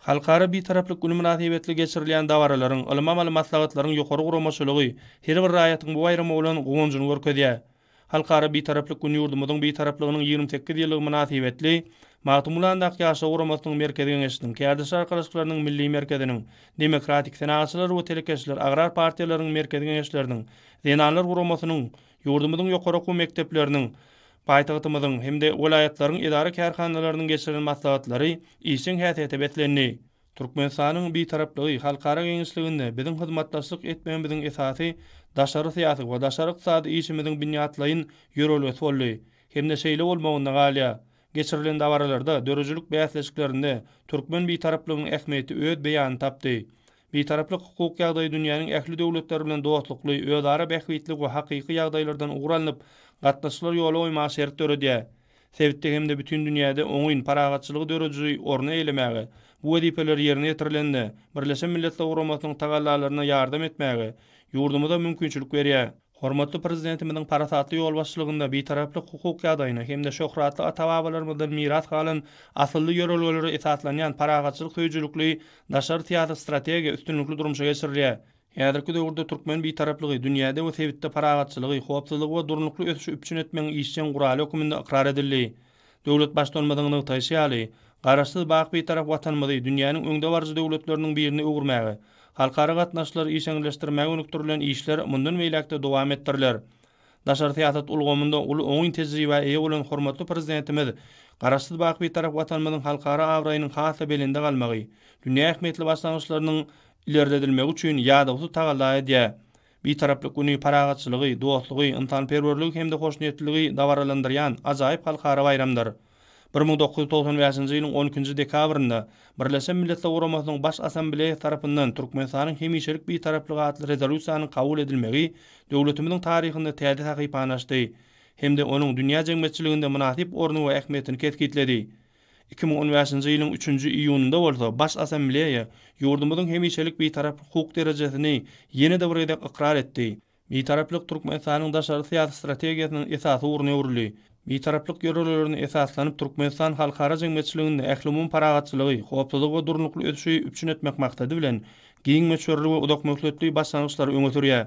Halkara Bitaraplyk güni mynasybetli geçirilýän dabaralaryň, ylym-amaly maslahatlaryň ýokary guramaçylygy her bir raýatyň bu baýrama bolan guwanjyny görkezýär. Halkara Bitaraplyk güni ýurdumyzyň Bitaraplygynyň ýigrimi sekiz ýyllygy mynasybetli Magtymgulandaky Ýaşlar guramasynyň Merkezi Geňeşiniň, Kärdeşler arkalaşyklarynyň Milli merkeziniň, Demokratik, Senagatçylar we telekeçiler agrar partiýalarynyň Merkezi Geňeşleriniň, Zenanlar guramasynyň, ýurdumyzyň ýokary okuw mekdepleriniň, Paýtagtymyzyň hem-de welaýatlaryň edara-kärhanalarynyň geçiren maslahatlary işjeň häsiýete beslendi. Türkmenistanyň Bitaraplygy halkara giňişliginde biziň hyzmatdaşlyk etmegimiziň esasy daşary syýasy we daşary ykdysady işimiziň binýatlaýyn ýörelgesi boldy hem-de şeýle bolmagynda galýar. Geçirilen dabaralarda, döredijilik bäsleşiklerinde türkmen Bitaraplygynyň ähmiýeti öz beýanyny tapdy. Bitaraplyk hukuk ýagdaýy dünýäniň ähli döwletleri bilen dostlukly, özara bähbitli we hakyky ýagdaýlardan ugur alnyp, gatnaşyklar ýola goýmaga şert döredýär. Sebitde hem-de bütin dünýäde oňyn, parahatçylygy dörejiji orny eýlemäge, bu wezipeler ýerine ýetirilende, Birleşen Milletler Guramasynyň tagallalaryna ýardam etmäge ýurdumyza mümkinçilik berýär. Hormatly Prezidentimiziň parasatly ýolbaşçylygynda Bitaraplyk hukuk ýagdaýyna hem-de şöhratly ata-babalarymyzdan miras galan asylly ýörelgelere esaslanýan parahatçylyk söýüjilikli daşary syýasy strategiýa üstünlikli durmuşa geçirilýär. Häzirki döwürde türkmen Bitaraplygy dünýäde we sebitde parahatçylygy, howpsuzlygy we durnukly ösüşi üpjün etmegiň işjeň guraly hökmünde ykrar edildi. Döwlet Baştutanymyzyň nygtaýşy ýaly, Garaşsyz, baky Bitarap Watanymyzy dünýäniň öňdebaryjy döwletleriniň birine öwürmäge, halkara gatnaşyklary işeňňirleşdirmäge gönükdirilen işler mundan beýläk-de dowam etdiriler. Daşary syýasat ulgamynda uly oňyn tejribä eýe bolan hormatly Prezidentimiz Garaşsyz, baky Bitarap Watanymyzyň halkara abraýynyň has-da belende galmagy, dünýä ähmiýetli başlangyçlarynyň ilerledilmegi üçin ýadawsyz tagalla edýär. Bitaraplyk güni parahatçylygy, dostlugy, ynsanperwerligi hem-de hoşniýetliligi dabaralandyrýan ajaýyp halkara baýramdyr. Bir müň dokuz ýüz togsan bäşinji ýylyň on ikinji dekabrynda Birleşen Milletler Guramasynyň Baş Assambleýasy tarapyndan Türkmenistanyň hemişelik Bitaraplygy atly rezolýusiýanyň kabul edilmegi döwletimiziň taryhynda täze sahypany açdy hem-de onuň dünýä jemgyýetçiliginde mynasyp orny we ähmiýetini kesgitledi. Iki müň on bäşinji ýylyň üçünji iýunynda bolsa Baş Assambleýa ýurdumyzyň hemişelik Bitarap hukuk derejesini ýene-de bir gezek ykrar etdi. Bitaraplyk Türkmenistanyň daşary syýasy strategiýasynyň esasy ugruny öwrüldi. Bitaraplyk ýörelgelerine esaslanyp, Türkmenistan halkara jemgyýetçiliginde ählumumy parahatçylygy, howpsuzlygy we durnukly ösüşi üpjün etmek maksady bilen, giň möçberli we uzakmöhletli başlangyçlary öňe sürýär.